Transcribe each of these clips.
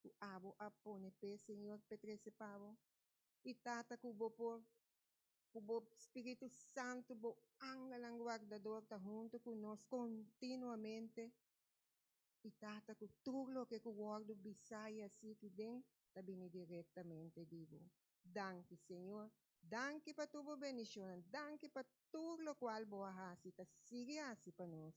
ku abo a pone p'e Señor p'e trese pa bo, i tata ku bo por ku bo spiritu santu bo angelnan guardador ta huntu ku nos kontinuamente, i tata ku tur loke ku wòrdu bisá i a siki den ta bini direktamente di bo. Danki Señor, danki pa tur bo bendishonnan, danki pa tur lokual bo a hasi i ta sigui hasi pa nos.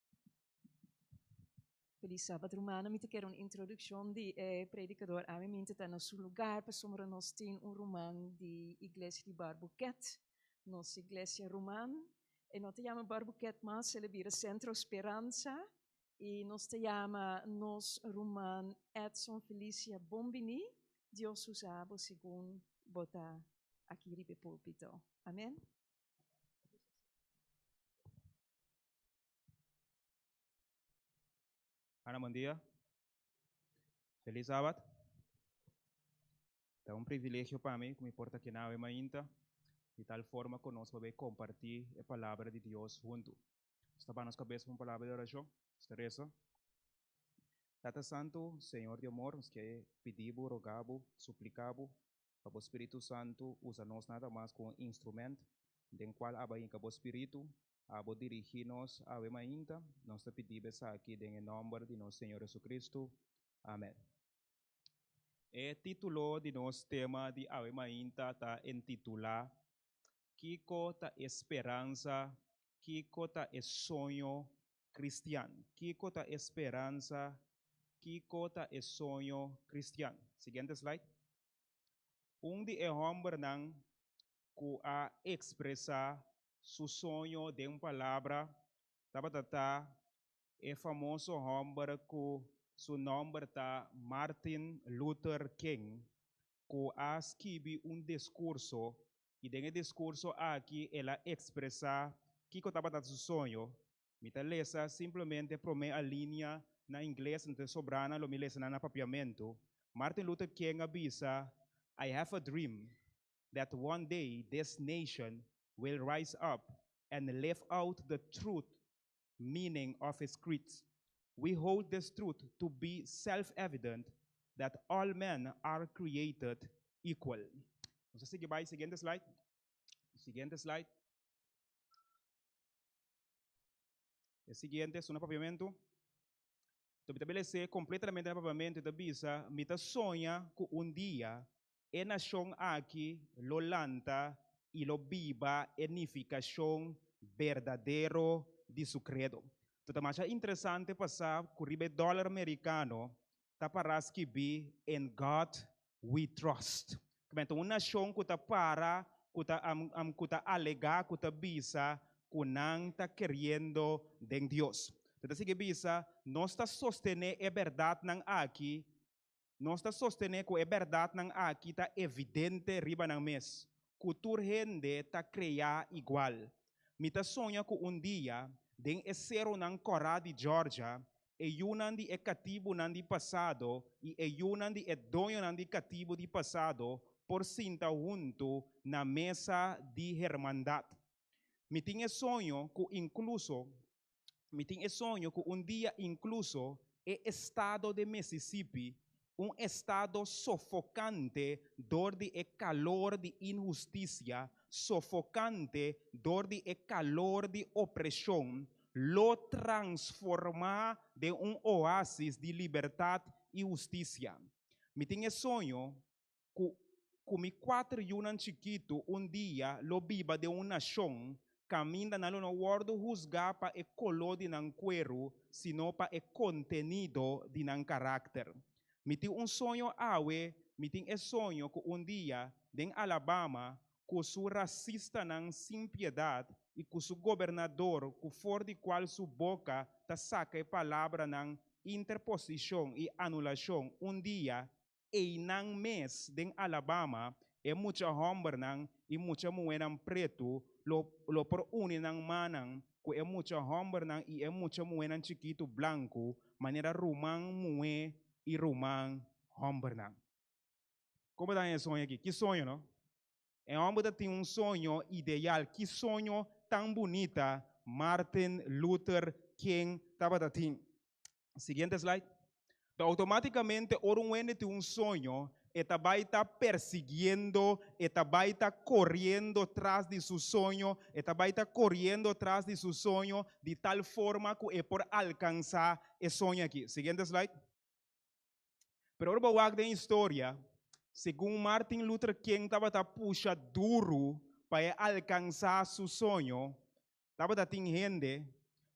Feliz Sabbat Rumana, mi ta kere un introduccion di e predicador ami minte ta na su lugar pasobra nos tin un ruman di iglesia di Barbuket, nos iglesia ruman e no ta yama Barbuket mas el a bira Centro Speranza y nos ta yama nos ruman Edson Felicia bon bini Dios usa bo segun bo ta aki riba e pulpito. Amen. Ana, buen dia. Feliz Sabat. Ta un privilegio pa mi cu mi por ta aki nawe mainta di tal forma cu nos por bay comparti e palabra di Dios hunto. Nos ta baha nos cabeza pa un palabra di oracion. Nos ta reza, Tata Santo, Señor di amor, nos ke pidi Bo, roga Bo, suplica Bo pa Bo Spiritu Santo usa nos nada mas como un instrumento den cual a bay yega Bo Spiritu a bo dirigí nos awe mainta. Nos ta pidiba esaki den e nòmber di nos Señor Jesucristo. Amèn. E título di nos tema di awe mainta ta entitulá, Kiko ta e speransa, kiko ta e soño kristian? Kiko ta e speransa, kiko ta e soño kristian? Siguiente slide. Un di e hòmbernan ku a ekspresá su soño den un palabra tabata ta e famoso hòmber ku su nòmber ta Martin Luther King ku a skibi un diskurso i den e diskurso aki el a ekspresá kiko tabata su soño. Mi ta lesa simplemente promé alinea na ingles anto e sobranan lo mi lesa nan na papiamentu. Martin Luther King a bisa, I have a dream that one day this nation will rise up and live out the truth meaning of his creeds. We hold this truth to be self-evident that all men are created equal. Nos a sigui bai, siguiente slide, siguiente slide. E siguiente es una papiamentu. Enton mi ta beles'é completamente na papiamentu i ta bisa, mi ta soña cu un dia e nashon aki lo lanta i lo biba e nifikashon berdadero di su kredo. Lo ta masha interesante pa sa ku riba e dòler merikano ta pará skibí In God We Trust. Kmente un nashon ku ta para, ku ta ku ta alegá, ku ta bisa ku nan ta keriendo den Dios. Lo ta sigui bisa, Nos ta sostené e bèrdatnan aki Nos ta sostené ku e bèrdatnan aki ta evidente riba nan mes, ku tur hende ta kreá igual. Mi ta soña ku un dia, den e serunan kòrá di Georgia, e yunan di e katibunan di pasado i e yunan di e doñonan di katibu di pasado por sinta huntu na mesa di hermandat. Mi tin e soño ku inkluso Mi tin e soño ku un dia inkluso e estado de Mississippi, un estado sofokante dor di e kalor di inhustisia, sofokante dor di e kalor di opreshon, lo transformá den un oasis di libertat i hustisia. Mi tin e soño ku ku mi kuater yunan chikitu un dia lo biba den un nashon kaminda nan lo no wòrdu husgá pa e koló di nan kueru sino pa e kontenido di nan karakter. Mi tin un soño awe, mi tin e soño ku un dia den Alabama ku su rasistanan sin piedat i ku su gobernador ku for di kual su boka ta saka e palabranan interposishon i anulashon un dia Einan mes den Alabama e mucha hòmbernan i mucha muhénan pretu lo lo por uni nan mannan ku e mucha hòmbernan i e mucha muhénan chikitu blanku manera ruman muhé i ruman hòmbernan. Komo ta e soño aki? Ki soño no? E homber ta tin un soño ideal. Ki soño tan bunita Martin Luther King tabata tin? Siguiente slide. Ta automaticamente ora un wende tin un soño e ta bai ta persiguiendo, e ta bai ta coriendo tras di su soño, e ta bai ta coriendo tras di su soño di tal forma cu e por alcansa e soño aki. Siguiente slide. Pero ora bo wak den historia, segun Martin Luther King tabata pusha duru pa e alkansa su soño, tabata tin hende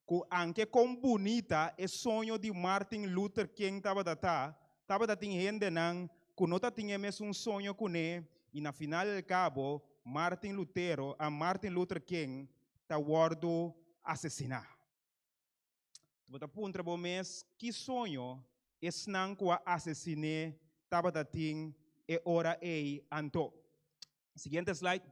ku anke kon bunita e soño di Martin Luther King tabata ta, tabata tin hendenan ku no ta tin e mesun soño kuné i na final del kabo Martin Lutero, Martin Luther King ta wòrdu asesiná. Bo ta puntra bo mes ki soño esnan ku a asesiné tabata tin e ora ei anto. Siguiente slide.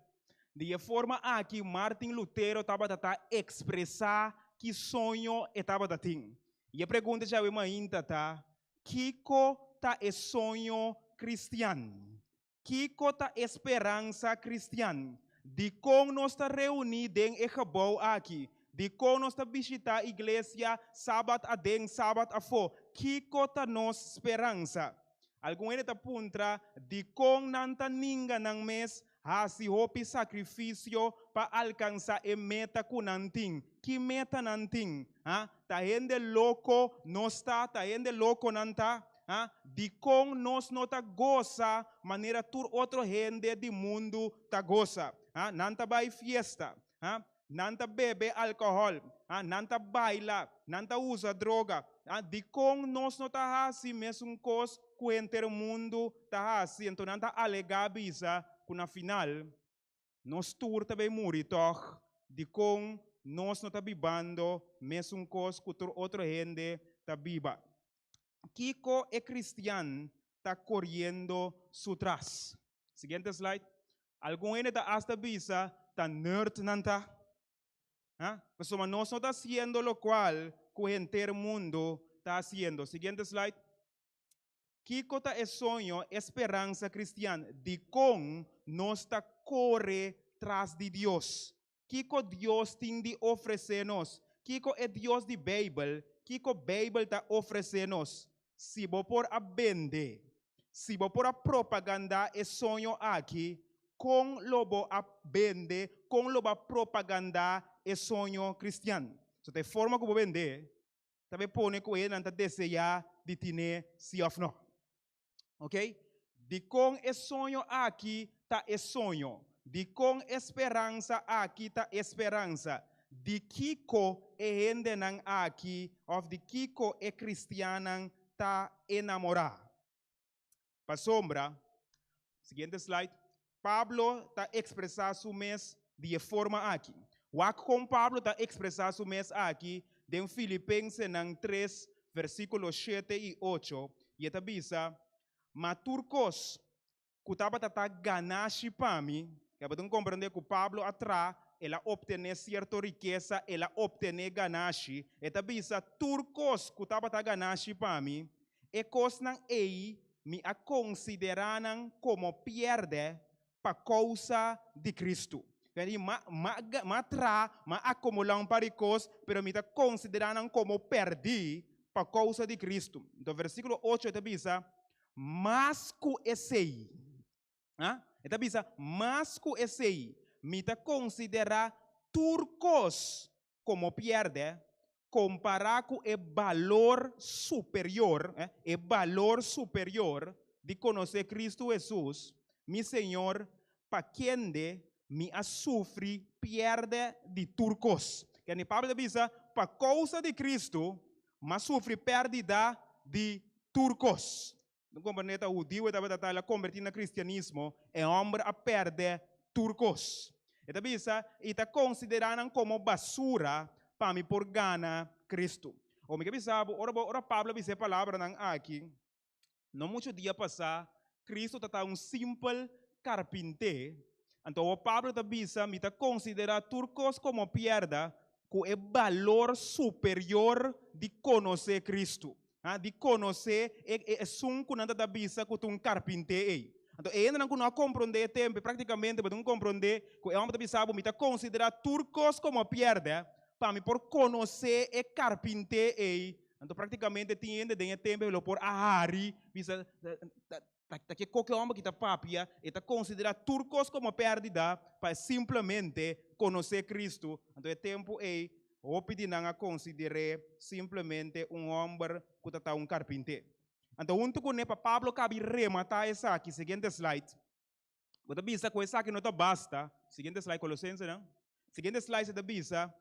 Di e forma aki Martin Lutero tabata ta ekspresá ki soño e tabata tin. I e pregunta djawe mainta ta, Kiko ta e soño kristian? Kiko ta e speransa kristian? Dikon nos ta reuní den e gebou aki? Dikon nos ta bishitá iglesia Sabat aden, Sabat afó? Kiko ta nos speransa? Algun hende ta puntra dikon nan ta ninga nan mes hasi hopi sakrifisio pa alkansá e meta ku nan tin. Ki meta nan tin? Ha? Ta hende loko nos ta? Ta hende loko nan ta? dikon nos no ta gosa manera tur otro hende di mundu ta gosa. Nan ta bai fiesta, nan ta bebe alkohòl, nan ta baila, nan ta usa droga. Dikon nos no ta hasi mesun kos ku henter mundu ta hasi? Anto nan ta alegá bisa ku na final Nos tur ta bay muri tog, dicon nos no ta bibando mesun cos cu tur otro hende ta biba? Kico e cristian ta coriendo su tras? Siguiente slide. Algun hende ta hasta bisa ta nerd nan ta, ha? Pasobra nos no ta haciendo locual cu henter mundo ta haciendo. Siguiente slide. Kiko ta e soño, e speransa kristian? Dikon nos ta kore tras di Dios? Kiko Dios tin di ofresé nos? Kiko e Dios di Beibel, kiko Beibel ta ofresé nos? Si bo por a bende, si bo por a propagandá e soño aki, kon lo bo a bende, kon lo bo a propagandá e soño kristian? So ta e forma ku bo bend'é. ta be pone ku e nan ta deseá di tine, si òf nò. Oke, dikon e soño aki ta e soño? Dikon e speransa aki ta e speransa? Di kiko e hendenan aki òf di kiko e kristiannan ta enamorá? Pasobra, siguiente slide, Pablo ta ekspresá su mes di e forma akí. Wak kon Pablo ta ekspresá su mes akí den Filipensenan tres versíkulo shete i ocho, i e ta bisa, Ma tur kos ku tabata ta ganashi pa mi, kaba tin komprendé ku Pablo a traha, el a optené sierto rikesa, el a optené ganashi, e ta bisa, tur kos ku tabata ganashi pa mi, E kosnan ei mi a konsiderá nan komo pièrdè pa kousa di Kristu. M'a tra, m'a akumulá un par di kos, pero mi ta konsiderá nan komo pèrdí pa kousa di Kristu. Anto, versíkulo ocho ta bisa, Mas ku esei, Ha? E ta bisa, mas ku esei, mi ta konsiderá tur kos komo pièrdè, kompará ku e balor superior, e balor superior di konosé Kristu Hesus, mi Señor, pa kende mi a sufri pièrdè di tur kos. Kende Pablo ta bisa, pa kousa di Kristu, m'a sufri pèrdida di tur kos. Un kompañeta hudiu e tabata tali a kombertí na kristianismo, e hòmber a pèrdè tur kos. E ta bisa, I ta konsiderá nan komo basura pa mi por gana Kristu. O mi ke bisa bo, ora bo ora Pablo a bisa e palabranan aki, no muchu di a pasá Kristu ta ta un simpel karpinté, anto awor Pablo ta bisa, mi ta konsiderá tur kos komo pierda ku e balor superior di konosé Kristu, ha, di konosé e e esun ku nan ta ta bisa ku ta un karpinté ei. Anto, e hendenan ku no a komprondé e tempe, praktikamente bo tin ku komprondé ku e hòmber ta bisa bo, mi ta konsiderá tur kos komo pièrdè pa mi por konosé e karpinté ei. Anto, praktikamente tin hende den e tempe lo por a hari bisa, Ta ke koke homber ki ta papia, e ta konsidera tur kos komo perdida pa e simplemente konosé Kristu. Anto e tempu ei hopi di nan a konsider'é simplemente un homber ku ta ta un karpinté. Anto huntu kuné pa Pablo kabi rematá esaki, siguiente slide. Bo ta bisa ku esaki no ta basta? Siguiente slide, Colosensenan. Siguiente slide e ta bisa,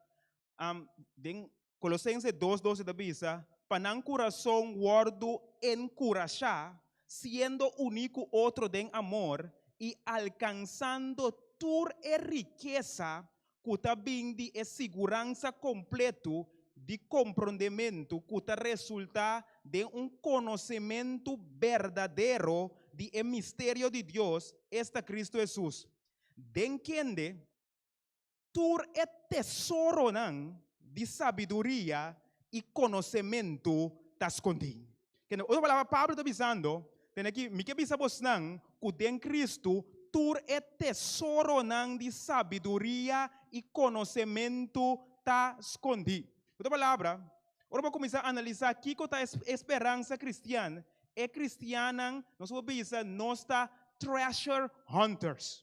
am, den Colosense dos dos e ta bisa, Pa nan kurason wòrdu enkurashá, siendo uní ku otro den amor, i alkansando tur e rikesa ku ta bin di e siguransa kompletu di komprondementu ku ta resultá den un konosementu berdadero di e misterio di Dios, esta Kristu Hesus, den kende tur e tesoronan di sabiduria i konosementu ta skondí. Kende ku otro palabra Pablo ta bisando, tene aki, mi ke bisa bosnan ku den Kristu tur e tesoronan di sabiduria i konosementu ta skondí. Ku otro palabra, ora bo kuminsá analisá kiko ta e speransa kristian, e kristiannan nos por bisa nos ta treasure hunters.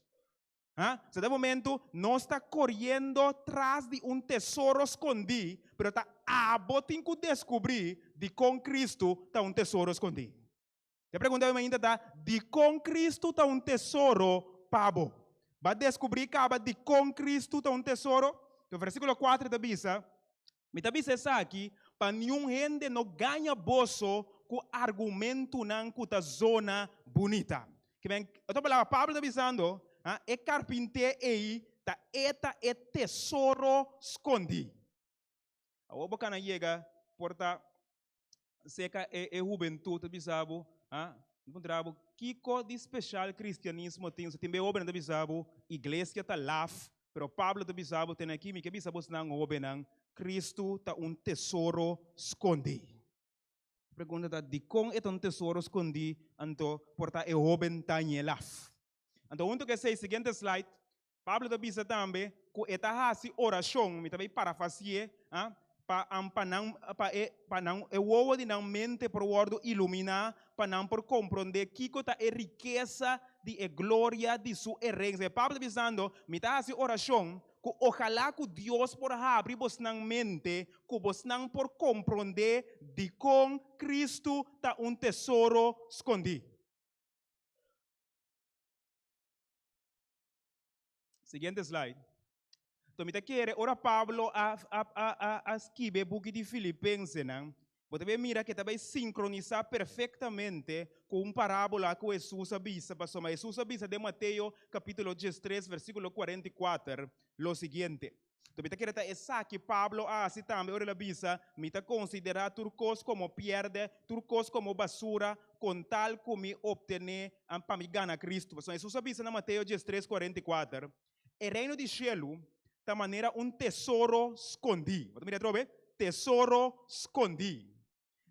Ha? So den momentu nos ta koriendo tras di un tesoro skondí, pero ta abo tin ku deskubrí dikon Kristu ta un tesoro skondí. E pregunta di mainta ta, Dikon Kristu ta un tesoro pa bo? Bo a deskubrí kaba dikon Kristu ta un tesoro? Tor, vèrsíkulo kuater ta bisa, Mi ta bisa esaki pa niun hende no gaña boso ku argumentunan ku ta zona bunita. Kiben, otra palabra, Pablo ta bisando, ha, e karpinté ei ta eta e tesoro skondí. Awor bo kana yega por ta Aserka e, e hubentud ta bisa bo, ha? Pregunta bo, kiko di special cristianismo tin? So tin be hobennan ta bisa bo, iglesia ta laf, pero Pablo ta bisa bo, tene aki mi ke bisa bo esnan hobennan, Cristo ta un tesoro scondi. Pregunta ta, dikon e ta un tesoro scondi anto por ta e hoben Daniel laf? Anto hunto ku esei, siguiente slide, Pablo ta bisa tambe ku e ta hasi orashon, mi ta bai parafasié, pa an pa nan pa e pa nan e wowo di nan mente por wòrdu iluminá, pa nan por komprondé kiko ta e rikesa di e gloria di su erensia. E Pablo ta bisando, Mi ta hasi orashon ku ojalá ku Dios por habri bosnan mente ku bosnan por komprondé dikon Kristu ta un tesoro skondí. Siguiente slide. To mi ta kere ora Pablo a, a, a, a, a skibe buki di Filipensenan, bo ta bai mira ku e ta bai sinkronisá perfektamente ku un parábola ku Hesus a bisa. Pasobra ma Hesus a bisa den Mateo kapítulo diestres, versíkulo kuarenta i kuater lo siguiente, Tapi ta keda ta esaki Pablo a hasi tambe ora el a bisa, Mi ta konsiderá tur kos komo pièrdè, tur kos komo basura, kon tal ku mi optené an pa mi gana Kristu. Pasobra Hesus a bisa na Mateo dies tres kuarenta i kuater, E reino di shelu ta manera un tesoro skondí, bo ta mira atrobe, tesoro skondí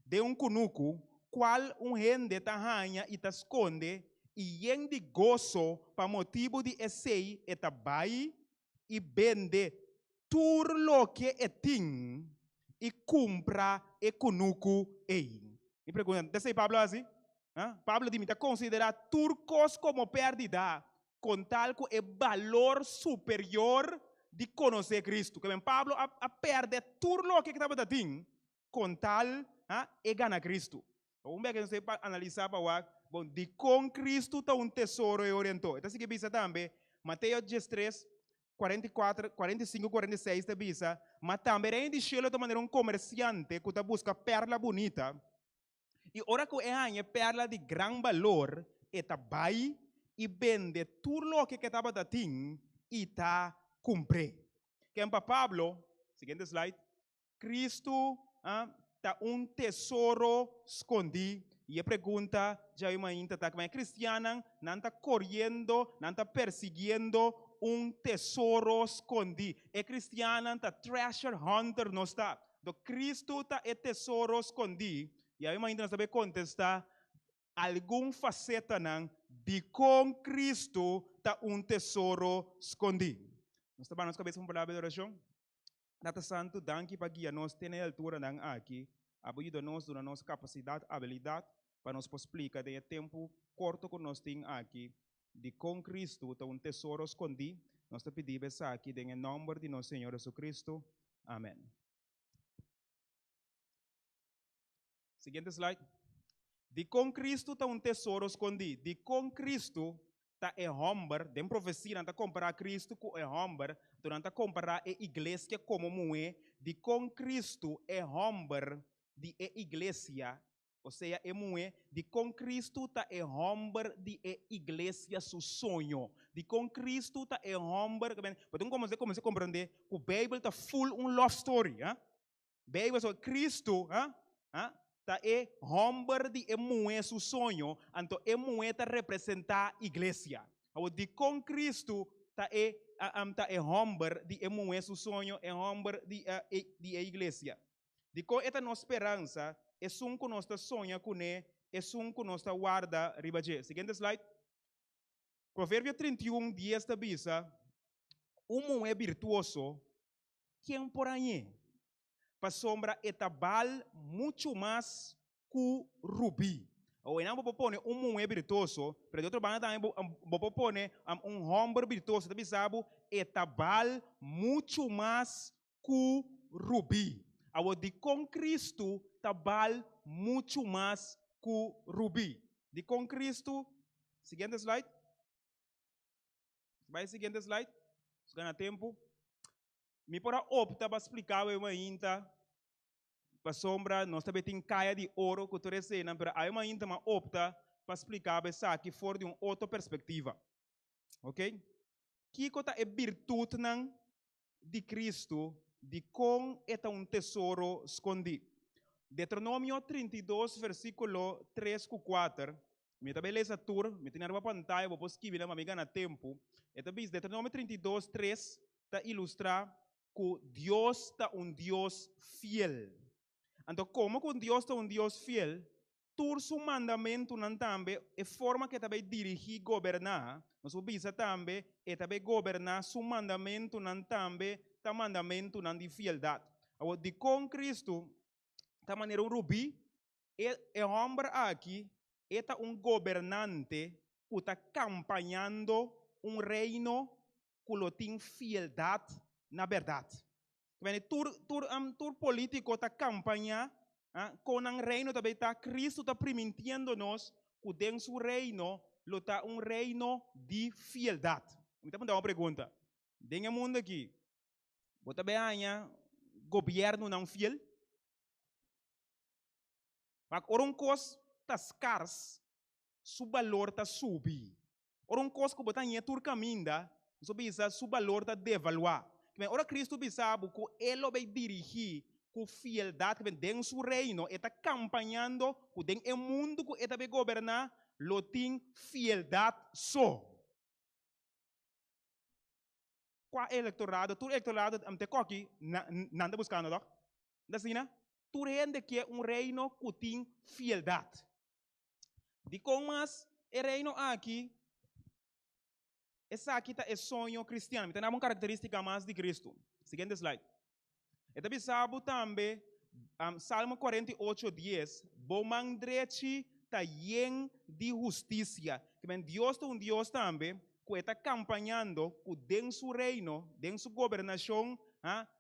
den un kunuku, kual un hende ta haña i ta skonde, i yen di goso pa motibu di esei e ta bai i bende tur loke e tin i kumpra e kunuku ei. Mi pregunta, ta esei Pablo a hasi? A? Pablo di, Mi ta konsiderá tur kos komo pèrdida kon tal ku e balor superior di konosé Kristu. Ke bai, Pablo a pèrdè tur loke ku tabata tin con tal ha e gana Cristo. Bo un bek nos ta pa analiza pa wak, bon, dicon Cristo ta un tesoro e orientó? E ta sigui bisa tambe, Mateo diestres, cuarenta y cuatro, cuarenta y cinco, cuarenta y seis ta bisa, Ma tambe Reino di Cielo ta manera un comerciante cu ta busca perla bunita, y ora cu e haña e perla di gran balor, e ta bay y bende tur loke cu e tabata tin y ta cumpr'é. Ken pa Pablo? Siguiente slide. Kristu ta un tesoro skondí. I e pregunta dja yu mainta ta, Kibaya kristiannan nan ta koriendo, nan ta persigiendo un tesoro skondí? E kristiannan ta treasure hunter, nos ta? Anto Kristu ta e tesoro skondí? Dja yu mainta nos ta por kontestá algun fasetanan dikon Kristu ta un tesoro skondí. Nos ta baha nos kabes unda un palabra di orashon. Tata Santu, danki pa guia nos te na e alturanan aki. Abo yuda nos, duna nos kapasidat, abilidat, pa nos por splika den e tempu korto ku nos tin aki di kon Kristu ta un tesoro skondí. Nos ta pidiba esaki den e nòmber di nos Señor Hesukristu. Amèn. Siguiente slide. Dikon Kristu ta un tesoro skondí? Dikon Kristu ta e hòmber? Den profesia nan ta kompará Kristu ku e hòmber, anto nan ta kompará e igleskia komo muhé. Dikon Kristu e hòmber di e iglesia, osea e muhé? Dikon Kristu ta e hòmber di e iglesia su soño? Dikon Kristu ta e hòmber? Pasobra nan kominsá komprendé ku Beibel ta ful un love story. Bijbel so Kristu ta e hòmber di e muhé su soño, anto e muhé ta representá iglesia. Awo dikon Kristu ta e ta e hòmber di e muhé su soño, e hòmber di di e iglesia? Dikon e ta nos speransa esun ku nos ta soña kuné, esun ku nos ta warda riba dje? Siguiente slide. Proverbio trinta i un dies ta bisa, Un muhé birtuoso Ken por hañ'é? Pasobra e ta bal muchu mas ku rubí. Awoynan bo por pone un muhé birtoso, pero di otro banda tambe bo bo por pone un hòmber birtoso. Ta bisa bo e ta bal muchu mas ku rubí. Awor, dikon Kristu ta bal muchu mas ku rubí? Dikon Kristu, siguiente slide. Bai siguiente slide, nos gana tempo. Mi por a opta pa splica awe mainta pasobra nos ta tin kaya di oro cu tur esenan, pero awe mainta mi a opta pa splica bo esaki for di un otro perspectiva. Ok, kico ta e birtutnan di Kristu dikon e ta un tesoro skondí. Deuteronomio trinta i dos versíkulo tres ku kuater, mi ta bai lesa tur, mi tene ariba pantaya, bo por skibi nan pa mi gana tempu. E ta bis, Deuteronomio trinta i dos tres ta ilustrá ku Dios ta un Dios fiel. Anto, komo ku Dios ta un Dios fiel? tur su mandamentunan tambe e forma k'e ta bai dirigí, goberná. Nos por bisa tambe e ta bai goberná su mandamentunan tambe ta mandamentunan di fieldat. Awor, dikon Cristo ta manera un rubí? E e hòmber aki e ta un gobernante ku ta kampañando un reino ku lo tin fieldat na bèrdat. Kibende? Tur, tur, am, tur polítiko ta kampañá a kon nan reino ta bei ta. Kristu ta primintiendo nos ku den su reino lo ta un reino di fieldat. Mi ta punta bo un pregunta. Den e mundu akí bo ta bin haña gobièrnunan fiel? Pasobra ora un kos ta skars su balor ta subi. Ora un kos ku bo ta ña tur kaminda, nos por bisa su balor ta devaluá. Kimin ora Kristu bisa bo ku e lo bai dirigí ku fieldat kimin den su Reino, e ta kampañando ku den e mundu ku e ta bai goberná lo tin fieldat so. Kua e elektorado? Tur elektorado ta te koki nan ta buskando tok? No ta asina? Tur hende ke un Reino ku tin fieldat. Dikon mas e Reino aki esaki ta e soño kristian? Mi ta daba un karakteristika mas di Kristu. Siguiente slide. E ta bisa bo tambe, Salmo cuarenta y ocho diez, Bo man drechi ta yen di hustisia. Ta ben, Dios ta un Dios tambe ku e ta kampañando ku den su Reino, den su gobernashon,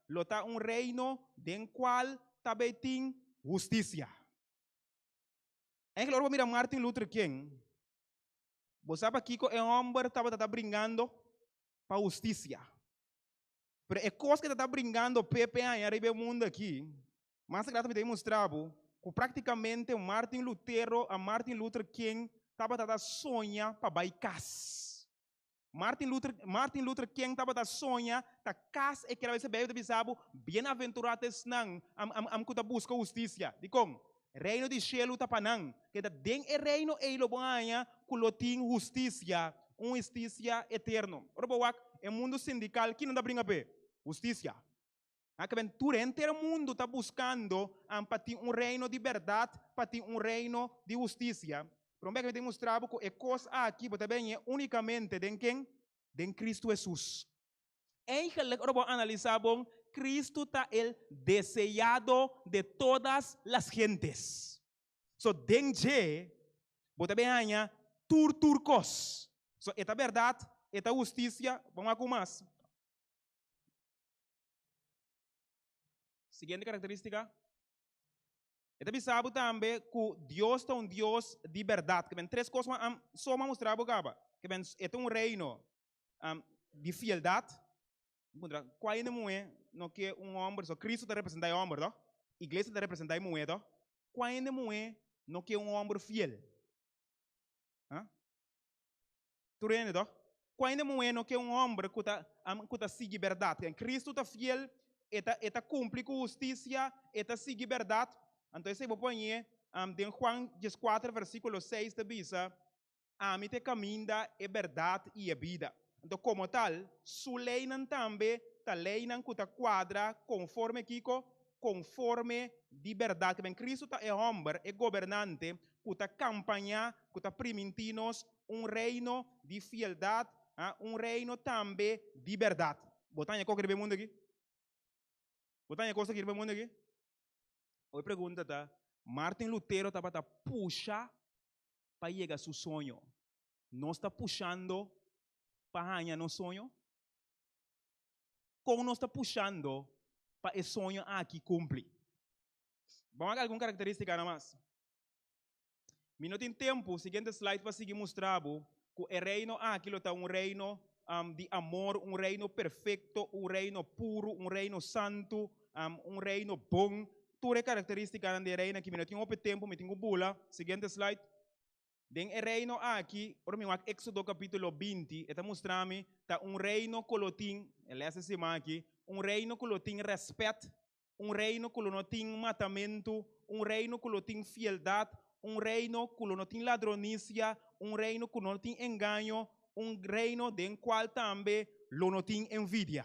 lo ta un Reino den kual ta bei tin hustisia. Angel ora bo mira Martin Luther King, bo sa pakiko e hòmber tabata ta bringando pa hustisia. Pero e kos ku e tabata bringando pepe aña riba e mundu akí, mas a grata mi ta demostrá bo ku práktikamente Martin Lutero a Martin Luther King tabata ta soña pa bai kas. Martin Luther, Martin Luther King tabata soña ta kas e kere bai ta bisa bo, bienaventurá ta esnan am, am, am ku ta buska hustisia. Dikon? Reino di shelu ta pa nan. Keda den e reino ei lo bo haña ku lo tin hustisia, un hustisia eterno. Ora bo wak e mundu sindikal, kinan ta bringa p'e? Hustisia. Na kiben tur henter mundu ta buskando an pa tin un reino di bèrdat, pa tin un reino di hustisia. Pero mi a kebent'e mustra bo ku e kos aki bo ta bene únikamente den ken? Den Kristu Hesus. Eigenlik ora bo analisá bon, Kristu ta el deseado de todas las gentes. So den dje bo ta bene haña tur tur kos. So e ta bèrdat, e ta hustisia, bo a wak un mas. Siguiente karakteristika, e ta bisa bo tambe ku Dios ta un Dios di bèrdat. Kiben tres kos ku an so a mustra bo kaba? Kiben e ta un reino di fieldat, ku ainda muhé no ke un hòmber so. Cristo ta representa e hòmber to, Iglesia ta representa e muhé to. Ku ainda muhé no ke un hòmber fiel? Tur hende to. Ku hende muheno ke un homber ku ta, amen, ku ta sigui berdad. Ken Kristu ta fiel, e ta, e ta kumpli ku hustisia, e ta sigui berdad. Anto esei bo por ñe, am, den Juan dieskuater versíkulo seis ta bisa, Ami ta e kaminda, e berdad i e bida. Anto komo tal, su leinan tambe ta leinan ku ta kuadra konforme kiko? Konforme di berdad. Tabien Kristu ta e homber, e gobernante ku ta kampañá, ku ta primintí nos un reino di fieldad, un reino tambe di berdad. Bo ta haña koke riba e mundu aki? Bo ta haña kos aki riba e mundu aki? Oye pregunta ta, Martin Lutero tabata pusha pa yega su soño. Nos ta pushando pa haña nos soño? Kon nos ta pushando pa e soño aki kumpli? Bo haga algun karakterístikanan mas. Mi no tin tempu, siguiente slide, pa sigui mustra bo cu e Reino aki lo ta un Reino di amor, un Reino perfecto, un Reino puru, un Reino santu, un Reino bon. Tur e caracteristicanan di e Reino aki. Mi no tin hopi tempu, mi tin cu bula. Siguiente slide. Den e Reino aki, ora mi wak Exodo capitulo binti, e ta mustra mi ta un Reino cu lo tin, e les e siman aki, un Reino cu lo tin respet un reino ku lo no tin matamentu, un reino ku lo tin fieldat, un reino ku lo no tin ladronisia, un reino ku no tin engaño, un reino den kual tambe lo no tin envidia.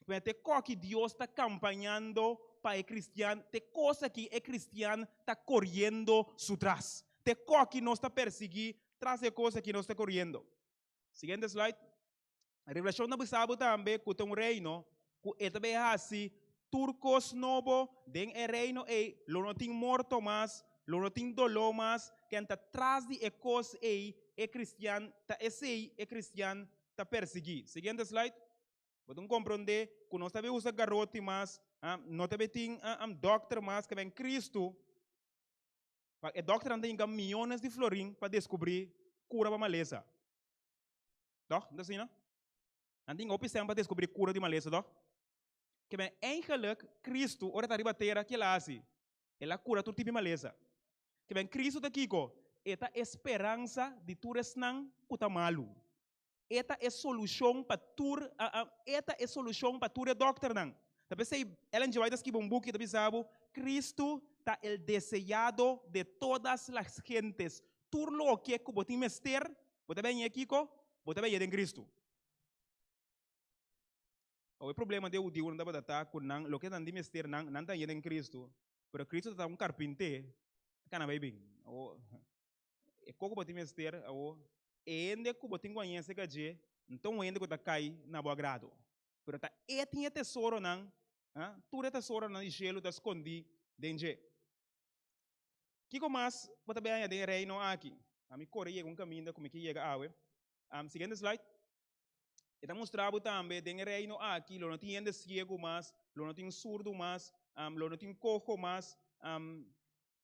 Mira te kò ki Dios ta kampañando pa e kristian, te kos akí e kristian ta koriendo su tras. Te kò ki nos ta persiguí, tras e kos akí nos ta koriendo. Siguiente slide. Revelashon ta bisa bo tambe ku ta un reino ku e ta bay hasi tur kos nobo. Den e reino ei lo no tin morto mas, lo no tin doló mas. Ken ta tras di e kos ei, e kristian ta esei e kristian ta persiguí. Siguiente slide. Bo tin ku komprondé ku nos ta bay usa garoti mas, no ta bay tin dòkter mas, kaba en Kristu e dòkternan ta yinka miones di florin pa deskubrí kura pa malesa. Tòg? No ta asina? Nan tin hopi sèn pa deskubrí kura di malesa, tòg? Ke men engelek, Kristu, ora e ta riba tera, ke el a hasi? El a kura tur tipi malesa. Ke men Kristu ta kiko? E ta e speransa di tur esnan ku ta malu. E ta e solushon pa tur e ta e solushon pa tur e dòkternan. Ta p'esei Ellen G. White a skiba un buki, e ta bisa bo, Kristu ta el deseado de todas las gentes, tur loke ku bo tin mester, bo ta beni e kiko? Bo ta beni e den Kristu. Awe e problema di e hudiunan tabata ta ku nan loke nan tin mester nan, nan ta beni e den Kristu, pero Kristu ta ta un karpinté, a kana bai bin. Awo, e kos ku bo tin mester, awo, e hende ku bo tin ku a yese ka dje, N ta un hende ku ta kai na bo agrado. Pero ta e tin e tesoronan, tur e tesoronan di shelu ta skondí den dje. Kiko mas bo ta biaña den e Reino aki? Ami kore yega un kaminda ku mi ke yega awe. Siguiente slide. E ta mustra bo tambe den e Reino aki lo no tin hende siegu mas, lo no tin surdu mas, lo no tin koho mas.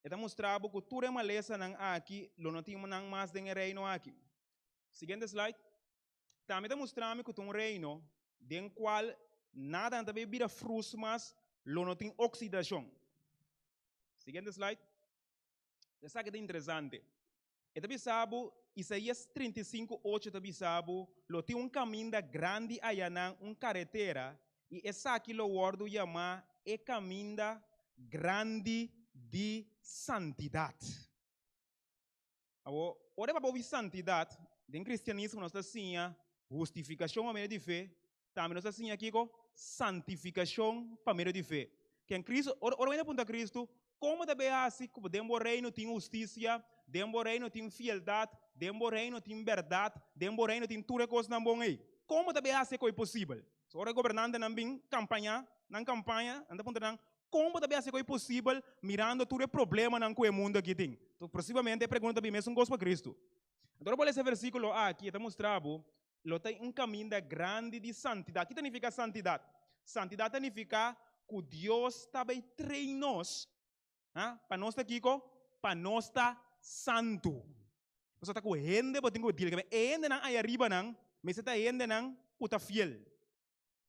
E ta mustra bo ku tur e malesanan aki lo no tin nan mas den e Reino aki. Siguiente slide. Ta mi ta mustra mi cu ta un reino den cual nada no ta bay bira frus mas, lo no tin oxidacion. Siguiente slide. Esaki ta interesante, e ta bisa bo, Isaías trinta i sinku ocho ta bisa bo, lo tin un caminda grandi ayanan, un caretera, y esaki lo wordo yama e caminda grandi di santidad. Awor, ora e papia over santidat, den cristianismo nos ta siña hustificacion pa medio di fe, tambe nos ta siña kico? Santificacion pa medio di fe. Ken Cristo, ora ora bo yanta puntra Cristo, como ta bay haci cu den bo reino tin husticia, den bo reino tin fieldad, den bo reino tin berdad, den bo reino tin tur e cosnan bon ey? Como ta bay haci e coy posibel? So ora e gobernantenan bin campaña, nan campaña, nan ta puntra nan, Kon bo ta bin hasi ku e posibel mirando tur e problemanan ku e mundu aki tin? Posiblemente e pregunta ta bin mesun kos pa Kristu. Anto ora bo lesa e versíkulo aki e ta mustra bo lo ta un kaminda grandi di santidat. Kiko ta nifiká santidat? Santidat ta nifiká ku Dios ta bai trein nos pa nos ta kiko? Pa nos ta santu. Pasobra ta ku hende bo tin ku deal. E hendenan ayaribanan mester ta hendenan ku ta fiel.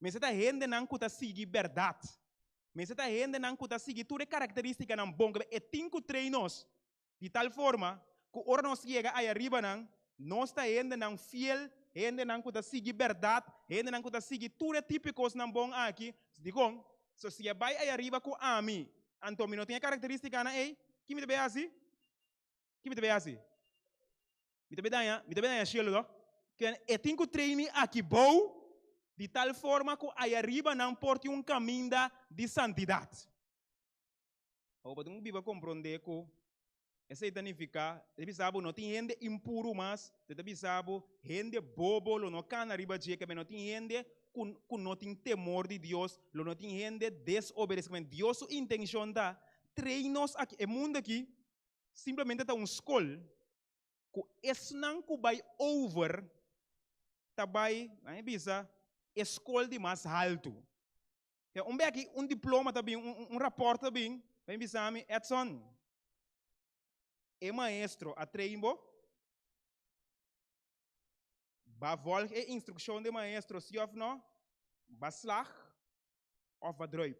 Mester ta hendenan ku ta sigui bèrdat. Mester ta hendenan ku ta sigui tur e karakterístikanan bon ku e tin ku trei nos, di tal forma ku ora nos yega ay'a riba nan, nos ta hendenan fiel, hendenan ku ta sigui bèrdat, hendenan ku ta sigui tur e tipo kosnan bon aki. Dikon? So si e bai ay'a riba ku ami, anto mi no tin e karakterístikanan ei, ke mi ta bai hasi? Ki mi ta bay haci? Mi ta bay daña, mi ta bay daña cielo toch? Ken e tin cu trae mi aki bou? Di tal forma cu aya riba nan por tin un caminda di santidad. Awo bo tin cu biba compronde cu esey ta nifica, e ta bisa bo no tin hende impuru mas, te ta bisa bo hende bobo lo no cana riba dje cabia no tin hende cu cu no tin temor di Dios, lo no tin hende desobedece. Dios su intencion ta trae nos aki e mundo aki Simplemente ta un skol ku esnan ku bai over ta bai, nan e bisa, e skol di mas haltu. Te un bèki un diploma ta bin, un rapòrt ta bin, ta bin bisa mi, Edson, e maestro a train bo? Ba vòlg e instrukshon di e maestro, si òf nò? Ba slag òf ba drùip?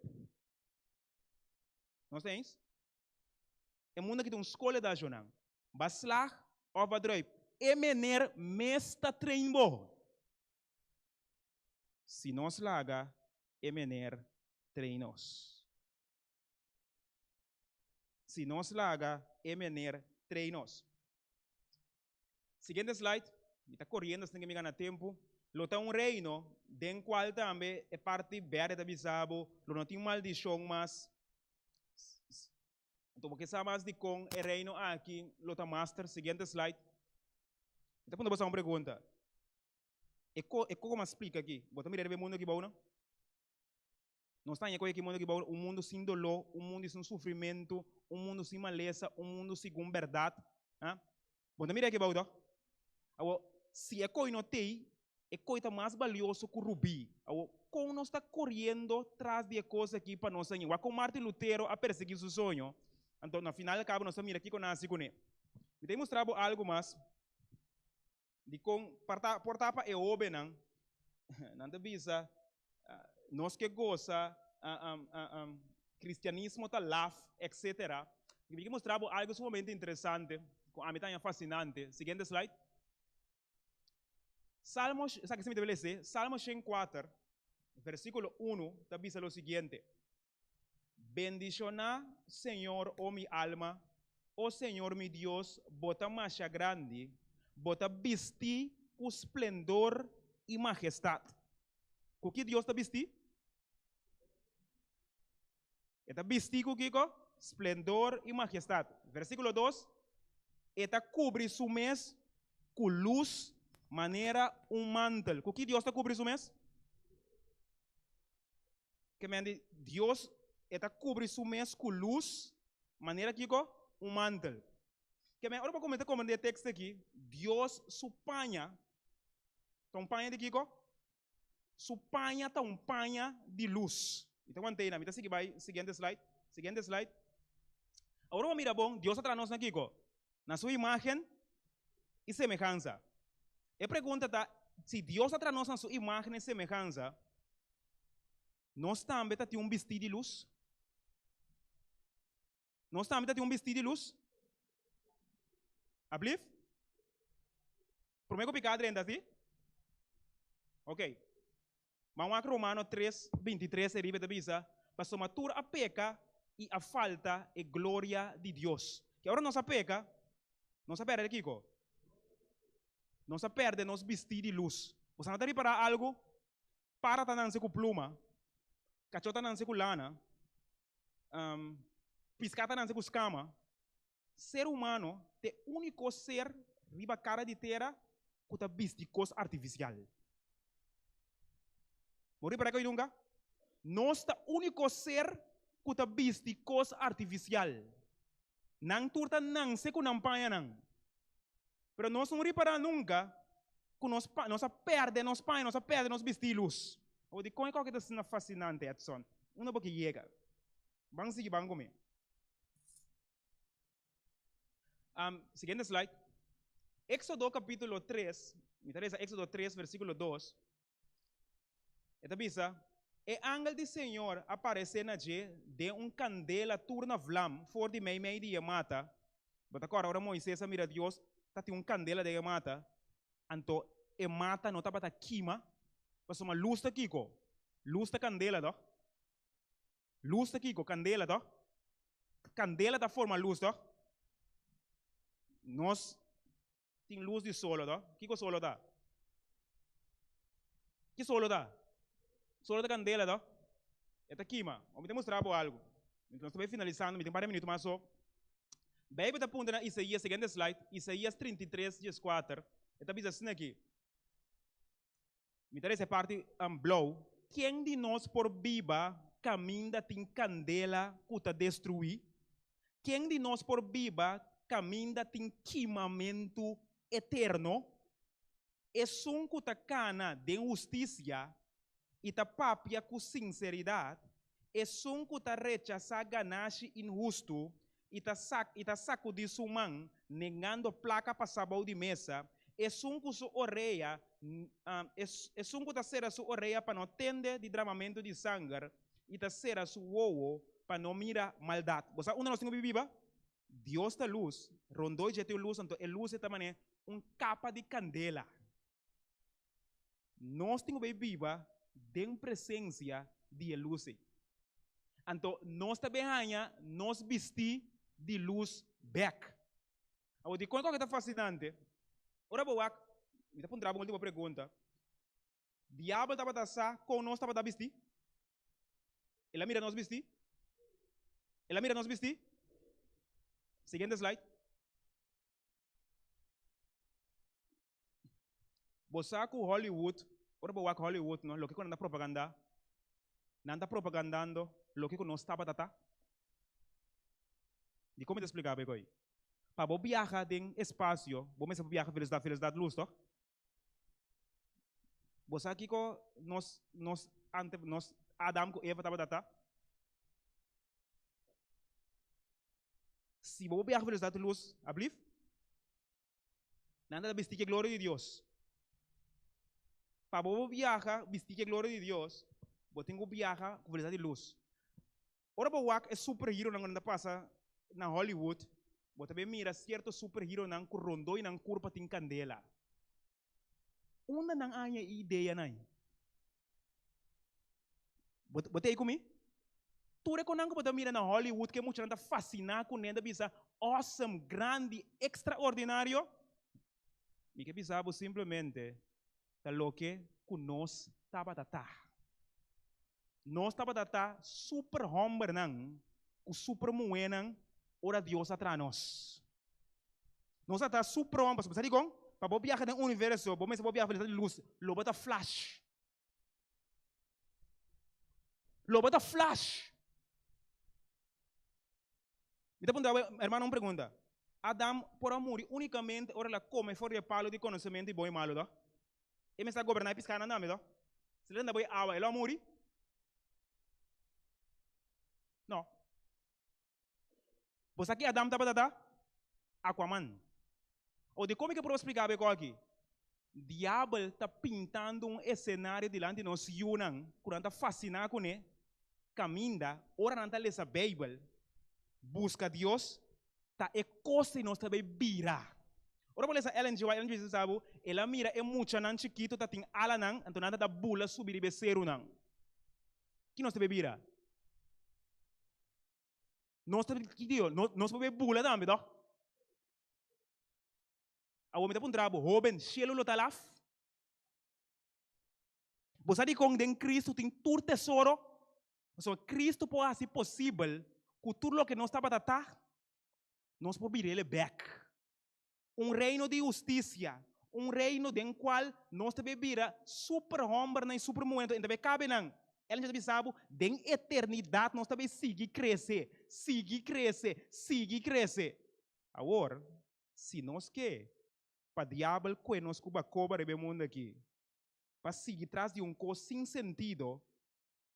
Nos ta eens? E mundo aki ta un skola di ashonan. Ba slag òf ba drùip. E mener mes ta train bo. Si nos laga e mener train nos. Si nos laga e mener train nos. Siguiente slide. Mi ta coriendo sin cu mi gana tempo. Lo ta un reino den cual tambe e parti berde ta bisa bo lo no tin maldicion mas. Enton bo ke sa mas dicon e reino aki lo ta master. Siguiente slide. Mi ta puntra bo sa un pregunta. E co, e co cu mi a splica aki bo ta mira riba e mundo aki bou no? Nos ta haña cu e ekimundo aki bou un mundo sin doló, un mundo sin sufrimentu, un mundo sin malesa, un mundo segun berdad. Ha? Bo ta mira aki bou to? Awo, si e koi no t'ey, e koi ta mas balioso cu rubí. Awo, con nos ta coriendo tras di e cos aki pa nos haña? Wak con Martin Lutero a persegui su soño, anto na final cabo nos ta mira kico na haci cuné. Mi ta a mustra bo algo mas. di kon por ta por ta pa e hóbennan, nan ta bisa nos ke goza kristianismo ta laf etsetera. Mi ke mustra bo algu sumamente interesante ku ami ta haña fascinante, siguiente slide. Salmo esaki si mi ta wil lesé, Salmo shen kuater, versikulo unu ta bisa lo siguiente, Bendishoná, Señor, O mi alma, O Señor mi Dios, bo ta masha grandi, bo ta bistí ku splendor i majestat. Ku ki Dios ta bistí? E ta bistí ku kiko? Splendor i majestat. Versíkulo dos, E ta kubri su mes ku lus manera un mantel. Ku ki Dios ta kubri su mes? ke men di Dios e ta kubri su mes ku lus manera ku kiko, un mantel. Ke men ora bo kuminsá komprende e tekst aki, Dios su paña ta un paña di kiko, su paña ta un paña di lus. I ta wantena, mi ta sigui bai siguiente slide, siguiente slide. Ora bo mira bon, Dios a traha nos na kiko? Na su imagen i semehansa. E pregunta ta, si Dios a traha nos na su imagen i semehansa, Nos tambe ta tin un bistí di lus? Nos tambe ta tin un bistí di lus? Alblief? Promé ku pika adrenta, si? Ok. Ban wak Romano tres, binti tres e riba, e ta bisa, Pasobra tur a peka i a falta e gloria di Dios. Ke ora nos a peka, nos a pèrdè kiko? Nos a pèrdè nos bistí di lus. Bo sa no ta ripará algu? paratanan-se ku pluma, kachotanan-se ku lana, piskatanan-se ku skama, ser humano ta e úniko ser riba kara di tera ku ta bisti kos artifisial. Bo ripará ku a bai di hunga? Nos ta úniko ser ku ta bisti kos artifisial. Nan tur ta nanse ku nan pañanan. pero nos no ripará nunka ku nos pa nos a pèrdè nos paño, nos a pèrdè nos bistí lus. Awor dikon e kòke ta asina fasinante, Edson? Un no por ke yega. Ban sigui ban ku mi. Am siguiente slide. Éxodo capítulo tres, mi ta lesa Éxodo tres versíkulo dos. E ta bisa, E angel di Señor a paresé na dje den un candela tur na vlam for di mei mei di dje mata. Bo ta acorda ora Moises a mira Dios ta tin un candela den e mata? Anto e mata no tabata kima, pasobra luz ta kico? Luz ta candela to? Luz ta kico? Candela to? Candela ta forma luz to? Nos. tin lus di solo to. Kiko solo ta? Ki solo ta? Solo ta kandela to. E ta kima. Bo mi ta mustra bo algu. Mientras nos ta bai finalisando, mi tin un par di minuto mas so. Beibel ta puntra na Isaías, siguiente slide, Isaías trinta i tres dieskuater, e ta bisa asina aki, Mi ta resa e parti blou. Ken di nos por biba kaminda tin kandela ku ta destruí? Ken di nos por biba kaminda tin kimamentu eterno? Esun ku ta kana den hustisia i ta papia ku sinseridat Esun ku ta rechasá ganashi inhustu i ta i ta sakudí su man nengando plaka pasá bou di mesa, esun ku su orea esun ku ta sera su orea pa no tende di dramamentu di sanger i ta sera su wowo pa no mira maldat. Bo sa unda nos tin ku bibí ba? Dios ta lus, rondó dje tin un lus, anto e lus ei ta manera un kapa di kandela. Nos tin ku bai biba den presensia di e lus ei. Anto nos ta bai haña nos bistí di lus bèk. Awor, dikon ku a ke ta fasinante? Ora bo wak, mi ta puntra bo un último pregunta, Diabel tabata sa kon nos tabata bistí? El a mira nos bistí? El a mira nos bistí? Siguiente slide. Bo sa cu Hollywood, ora bo wak Hollywood no, loke cu nan ta propaganda, nan ta propagandando loke cu nos tabata ta? Dicon mi ta splica bo e coi? Pa bo biaha den espacio bo mester biaha velocidad, velocidad luz toch? Bo sa kico nos, nos ante, nos Adam cu Eva tabata ta? Si bo biaha velocidad luz, ablief? Nan ta bisti ki e gloria di Dios. Pa bo bo biaha bisti ki e gloria di Dios, bo tin ku biaha ku velosidat di lus. Ora bo wak e superheronan ku nan ta pasa na Hollywood, bo ta bin mira sierto superheronan ku rondoi nan kurpa tin kandela. Unda nan haña e ideanan? Bo, bo ta ei ku mi? Tur e konan ku bo ta mira na Hollywood, ku e muchanan ta fasiná kuné, ta bisa awesome, grandi, ekstraordinario. Mi ke bisa bo simplemente ta loke ku nos tabata ta. Nos tabata ta super hòmbernan ku super muhénan ora Dios a traha nos. Nos a ta su pronto, pasobra sa dikon? Pa bo biaha den universo, bo mester bo biaha velosida di lus, lo bo ta flash. Lo bo ta flash. Mi ta puntra bo e hermanonan un pregunta, Adam por a muri unikamente ora el a kome for di e palu di konosementu di bon i malu to? E mester a goberná e piskánan tambe to? Si el a tenta bo e awa, e lo a muri? No. Bo sa ki Adam tabata ta? Aquaman. O di como ke por explica bo e cosa aki? Diabel ta pintando un escenario dilanti nos yunan cu nan ta fascina cu ne, caminda ora nan ta lesa Bijbel, busca Dios, ta e cos di nos ta bay bira. Ora bo lesa Ellen G. White, Ellen G. White sa bo, el a mira e muchanan chikito ta tin alanan, enton nan ta ta bula subi riba e cerunan. Ki nos ta be bira? Nos ta ki dijo? Nos por be bula tambe tok. Awor mi ta puntra bo, hoben, shelu lo ta laf? Bo sa dikon den Cristo tin tur tesoro? Pasobra Cristo por hasi posibel ku tur loke nos tabata ta, nos por bira el e bek. Un reino di husticia, un reino den cual nos ta be bira super hombernan y super muhernan, enton e ta be cabe nan. El mester ta bisa bo, den eternidad nos ta be sigui crece, sigui crece, sigui crece. Awor, si nos ke pa Diabel cue nos cu bacoba riba e mundo aki, pa sigui tras di un cos sin sentido,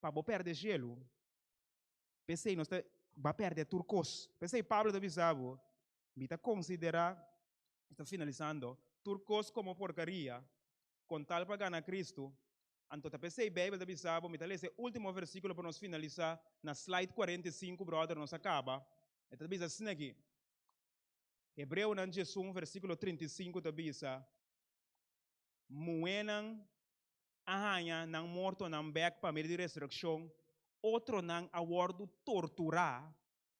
pa bo perde cielo, p'esey nos ta, bo a perde tur cos. P'esey Pablo ta bisa bo, Mi ta considera, mi ta finalisando, tur cos como porcaria con tal pa gana Cristo, anto ta pesey Bijbel ta bisa bo. Mi ta lesa e ultimo versiculo pa nos finalisa na slide cuarenta i sinku, brother, nos a caba. E ta bisa asina aki, Hebreonan diesun, versiculo trinta i sinku ta bisa, Muhénan a haña nan mortonan bek pa medio di resureccion, otronan a wordo tortura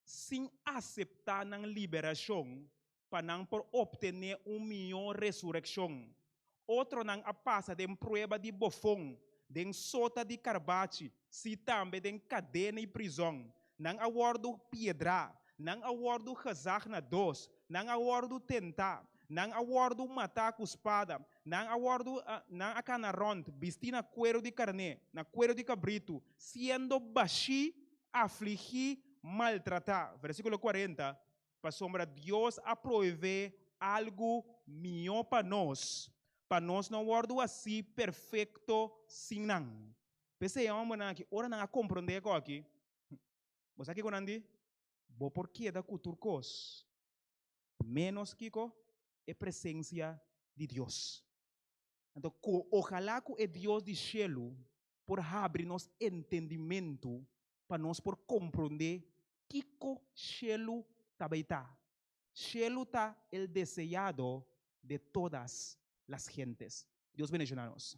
sin aseptá nan liberashon pa nan por optené un mihó resurekshon. Otronan a pasa den prueba di bofon, den sota di karbachi, sí, tambe den kadena i prizòn. Nan a wòrdu piedraá, nan a wòrdu gazag na dos, nan a wòrdu tentá, nan a wòrdu matá ku spada, nan a wòrdu, nan a kana rònt, bistí na kueru di karné, na kueru di kabritu, siendo bashí afligí, maltratá, versíkulo kuarenta, pasobra Dios a proevé algu mihó pa nos, pa nos no wòrdu así perfekto sin nan. P'esei, hòmbernan akí, ora nan a komprondé e kos akí, bo sa kiko nan di? Bo por keda ku tur kos, ménos, kiko? e presensia di Dios. Anto, ojalá ku e Dios di shelu por habri nos entendimentu pa nos por komprondé kiko shelu ta bai ta. Shelu ta el deseado de todas las gentes. Dios bendiciona nos.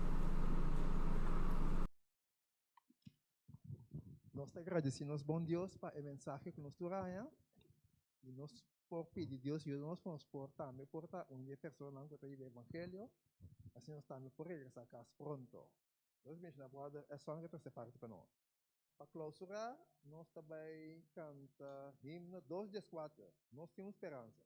Nos ta gradisí nos Bon Dios pa e mensahe ku nos tur haña, i nos por pidi Dios yuda nos pa nos por tambe por ta un di e personanan ku ta yiba e evangelio, asina nos tambe por regresá kas pronto. Nos a menshona bròder Esson ku e trese parti pa nos. Pa klousura nos ta bai kanta himno dos di es kuater, Nos tin un speransa.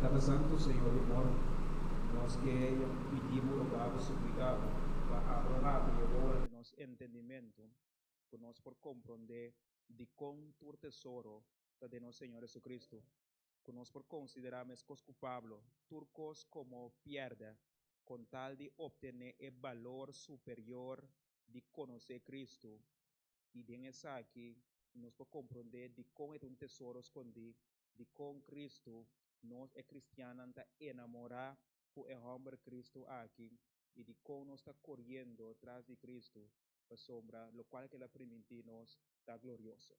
Tata Santu, Señor di Amor, nos ke pidi Bo, roga Bo, suplica Bo pa abra hatu y ora di nos entendimento cu nos por compronde dicon tur tesoro ta den nos Señor Jesucristo. ku nos por konsiderá meskos ku Pablo, tur kos komo pièrdè kon tal di optené e balor superior di konosé Kristu, i den esaki nos por komprondé dikon e ta un tesoro skondí, dikon Kristu, nos e kristiannan ta enamorá ku e hòmber Kristu aki i dikon nos ta koriendo tras di Kristu, pasobra lokual kila primintí nos ta glorioso.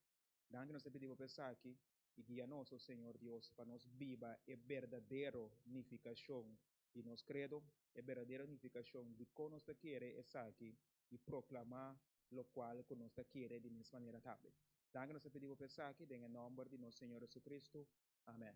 Danki nos ta pidi bo pa esaki, i guia nos, o Señor Dios, pa nos biba e berdadero nifikashon di nos kredo, e berdadero nifikashon di kon nos ta kere esaki i proklamá lokual ku nos ta kere di mes manera tambe. Danki nos ta pidi bo pa esaki den e nòmber di nos Señor JesuCristo. Amèn.